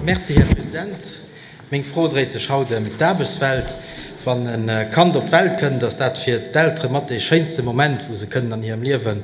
Merci, Här President. Meng Fro dréit sech haut ëm d'Aarbechtswelt. Wann e Kand op d'Welt kënnt, ass dat fir d'Eltere mat dee schéinste Moment, wou se kënnen an hirem Liewen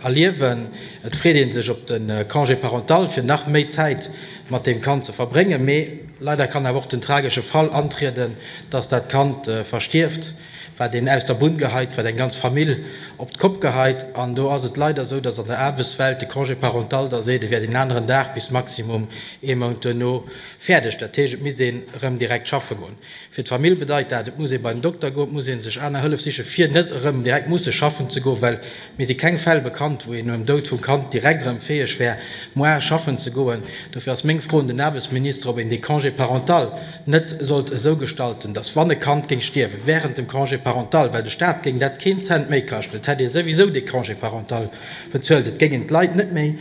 erliewen. Et freet ee sech op de Congé parental, fir nach méi Zäit mat deem Kand ze verbréngen. Mee leider kann awer och den tragesche Fall antrieden, dass dat Kand verstierft. wat een aus der Bunn geheit, wat eng ganz Famill op d'Kopp geheit. An do ass et leider esou, dass an der Aarbechtswelt de Congé parental da seet, e wär den aneren Dag bis maximum ee Mount duerno fäerdeg. Dat heescht, et misst een erëm direkt schaffe goen. Fir d'Famill bedeit dat, et muss ee bei den Dokter goen, et muss ee sech aner Hëllef sichen, fir net erëm direkt musse schaffen ze goen, well Mir si keng Fäll bekannt, wou een nom Doud vum Kand direkt erëm fäeg wär, moarn schaffen ze goen. Dofir ass meng Fro un den Aarbechtsminister, ob een dee Congé parental net sollt esou gestalten, dass, wann e Kand géing stierwen während dem Congé parental, well de Staat géing dat keen Cent méi kaschten, et hätt ee souwisou dee Congé parental bezuelt, et géingen d'Leit net méi,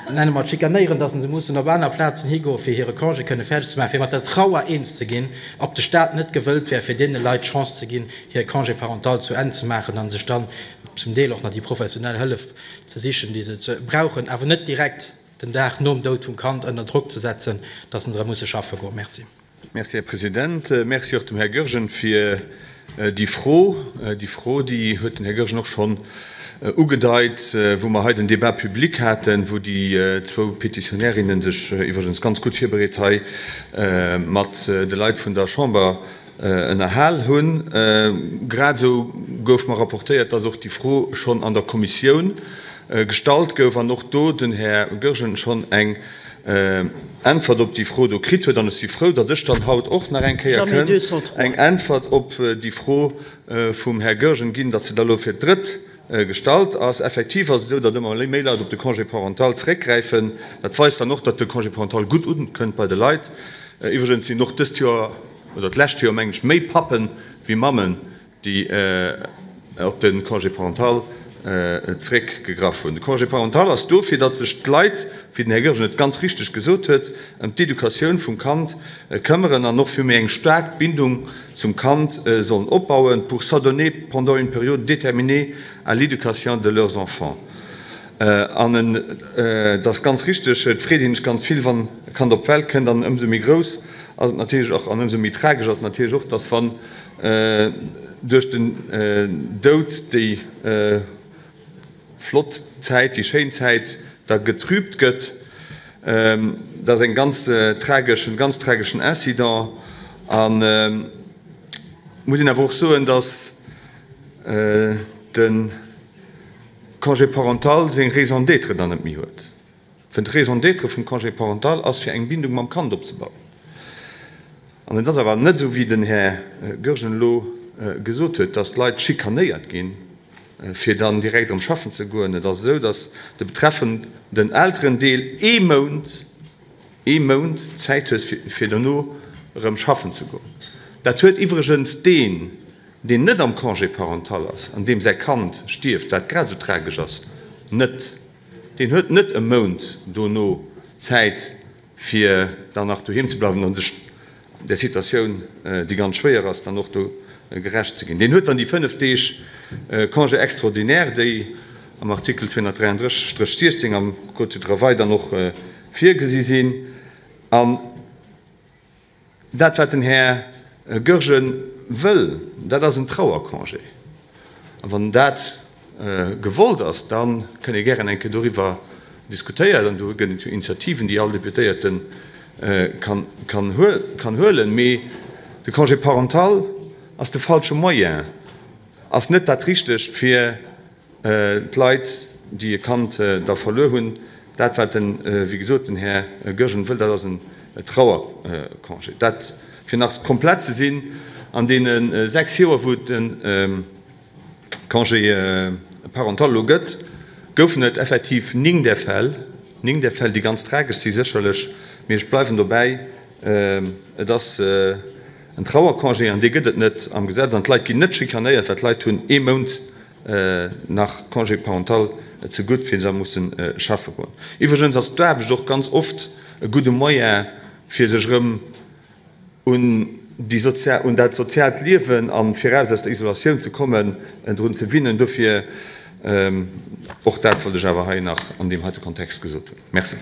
Nenne mer et schikanéieren, datt se mussen op aner Plazen higoen, fir hire Congé kënne fäerdeg ze maachen, fir mat der Trauer eens ze ginn, ob de Staat net gewëllt wär, fir deene Leit d'Chance ze ginn, hire Congé parental zu Enn ze maachen a sech dann zum Deel och nach déi professionell Hëllef ze sichen, déi se brauchen, awer net direkt den Dag nom Doud vum Kand ënner Drock ze setzen, datt se erëm musse schaffe goen. Merci. Merci, Här President. Merci och dem Här Goergen fir déi Fro. Déi Fro, déi huet den Här Goergen och schonn ugedeit, wou mer hei den Débat public haten, wou déi zwou Petitionärinnen sech iwwregens ganz gutt virbereet hei mat de Leit vun der Chamber ënnerhal hunn. Grad esou gouf mer rapportéiert, dass och déi Fro schonn an der Kommissioun gestallt gouf an och do den Här Goergen schonn eng Äntwert op déi Fro do kritt huet. An ech si frou, datt ech dann haut och nach eng Kéier kënn eng Äntwert op déi Fro vum Här Goergen ginn, datt se da elo fir d'drëtt gestallt ass. Effektiv ass et esou, datt ëmmer méi Leit op de Congé parental zréckgräifen. Dat weist dann och, datt de Congé parental gutt ukënnt bei de Leit. Iwwregens sinn och dëst Joer, oder d'lescht Joer meng ech, méi Pappen ewéi Mammen déi op de Congé parental zréckgegraff hunn. De Congé parental ass do, fir datt sech d'Leit, wéi den Här Goergen et ganz richteg gesot huet, ëm d'Educatioun vum Kand këmmeren an och fir méi eng staark Bindung zum Kand sollen opbauen, pour s'adonner pendant une période déterminée à l'éducation de leurs enfants. An et ass ganz richteg, et freet ee sech ganz vill, wann e Kand op d'Welt kënnt, an ëmsou méi grouss ass et natierlech och an ëmsou méi tragesch ass et natierlech och, datt, wann Duerch den Doud déi flott Zäit, déi schéin Zäit da getrübt gëtt. Dat ass eng ganz trageschen, ganz trageschen Incident an muss een awer och soen, datt de Congé parental seng Raison d'être dann net méi huet. Well d'Raison d'être vum Congé parental ass, fir eng Bindung mam Kand opzebauen. An et ass awer net esou, wéi den Här Goergen elo gesot huet, dass d'Leit schikanéiert ginn, fir dann direkt erëm schaffen ze goen. Et ass esou, dass de betreffenden Elterendeel ee Mount, ee Mount Zäit huet, fir dono erëm schaffen ze goen. Dat huet iwwregens deen, deen net am Congé parental ass an deem säi Kand stierft, wat grad esou tragesch ass, net. Deen huet net e Mount dono Zäit, fir dann nach doheem ze bleiwen an sech där Situatioun, déi ganz schwéier ass, dann och do gerecht ze ginn. Deen huet dann déi fënnef Deeg Congé extraordinaire, déi am Artikel 233-16 am Code du travail dann och virgesi sinn. Dat, wat den Här Goergen wëll, dat ass en Trauercongé. A wann dat gewollt ass, da kënn ee gären eng Kéier doriwwer diskutéieren. An do gëtt et jo Initiativen, déi all Deputéierte kann huelen. Mee de Congé parental ass de falsche Moyen, Ass net dat Richtegt fir d'Leit, déi e Kand da verluer hunn? Dat, wat, wéi gesot, den Här Goergen wëll, dat ass en Trauercongé. Dat, fir nach komplett ze sinn, an deene sechs Joer, wou et de Congé parental elo gëtt, goufen et effektiv néng där Fäll, néng där Fäll, déi ganz tragesch si sécherlech, mee ech bleiwen dobäi, et ass, En Trauercongé, an dee gëtt et net am Gesetz, an d'Leit ginn net schikanéiert, well d'Leit hunn ee Mount nach Congé parental ze gutt, fir da musse schaffe goen. Iwwregens ass d'Aarbecht och ganz oft e gudde Moyen, fir sech erëm un déi sozial, un dat soziaalt Liewen an viraus aus der Isolatioun ze kommen, drun ze winnen. Dofir, och dat wollt ech awer hei nach an deem heite Kontext gesot hunn. Merci.